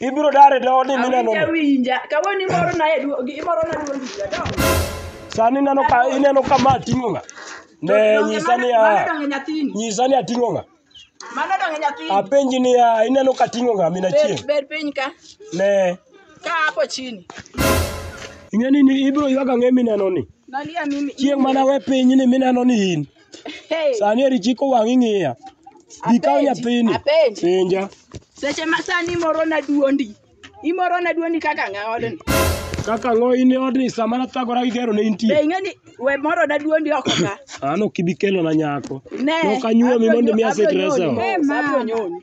ibiro dare doni mineno winja kawuono imoro na imoro na duol winja dong sani ineno ka ineno ka ma ting'o nga ne nyisa ni a nyisa ni ating'o nga mano dong nyathini apenji ni a ineno ka ting'o nga mina chien ber piny ka ne ka hapo chini ing'eni ni ibiro ywaga ng'e mineno ni chieng' mana we piny ni mineno ni in Hey, Sani eri chiko wang' ing'iya. Dhi kaw Apenji, nyathini. apenji. Penja. seche ma sani imoro na duondi. Imoro na duondi kaka ng'a odni. Kaka ng'o in e odni sama nathagora gi gero ne Be intie. ing'e ni we moro na duondi oko ka. An ok ibi kelona nyako. Ne. Nok anyuomi mondo mi aset abro nyoni reso. mos, abro nyoni.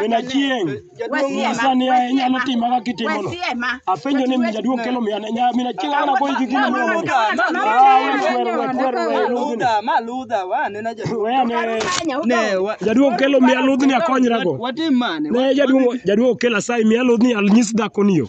Min Achieng', nyisa ni inyalo tima kaka itimono. Apenjo ni min jaduong' kelo miya ne nya- min Achieng' ana goyi gi gini miya mondo. Ah, we kwero, we kwero, we ludhni. We ane, jaduong' kelo miya ludhni akonyrago. Ne jaduong' jaduong' okel asayi miya ludhni anyis dhakoni yo.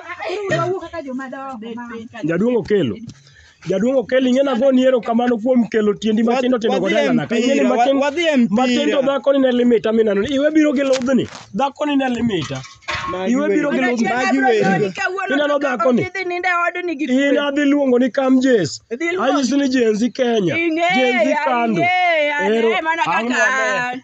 Jaduong' Okelo. Jaduong' Okelo ing'e nago ni erokamano kuom kelo tiendi matindo tindo Wadhi goda e nana. Ing'e ni mpira, matin- wa- wadhi e mpira. Matindo dhako ni ne limita minano. Iwe biro gi ludhni. Dhako ni ne limita. Iwe biro gi ludhni. Ineno dhako ni. In adhi luongo ni kam Jess. Idhi luongo. Anyisi ni Gen Z Kenya. Gen Z kando. Ero- Ang'o maber?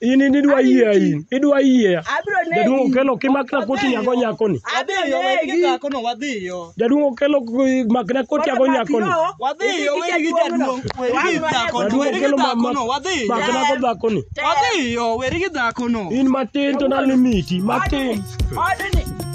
In in idwa Adhi yie uti. in. Idwa yie. Abiro negi. Jaduong' okelo kimakna koti nyago nyakoni. Abiro Wadhiyo, we gi negi. dhakono, wadhiyo. Jaduong' okelo k- makna koti nyago nyakoni. Wadhiyo, we gi jaduong', we gi dhakono, Jaduong' we gi okelo ma- dhakono, ma- wadhiyo. makna go dhakoni. Wadhiyo, we gi dhakono. In matin to nalimiti, matin. Odni.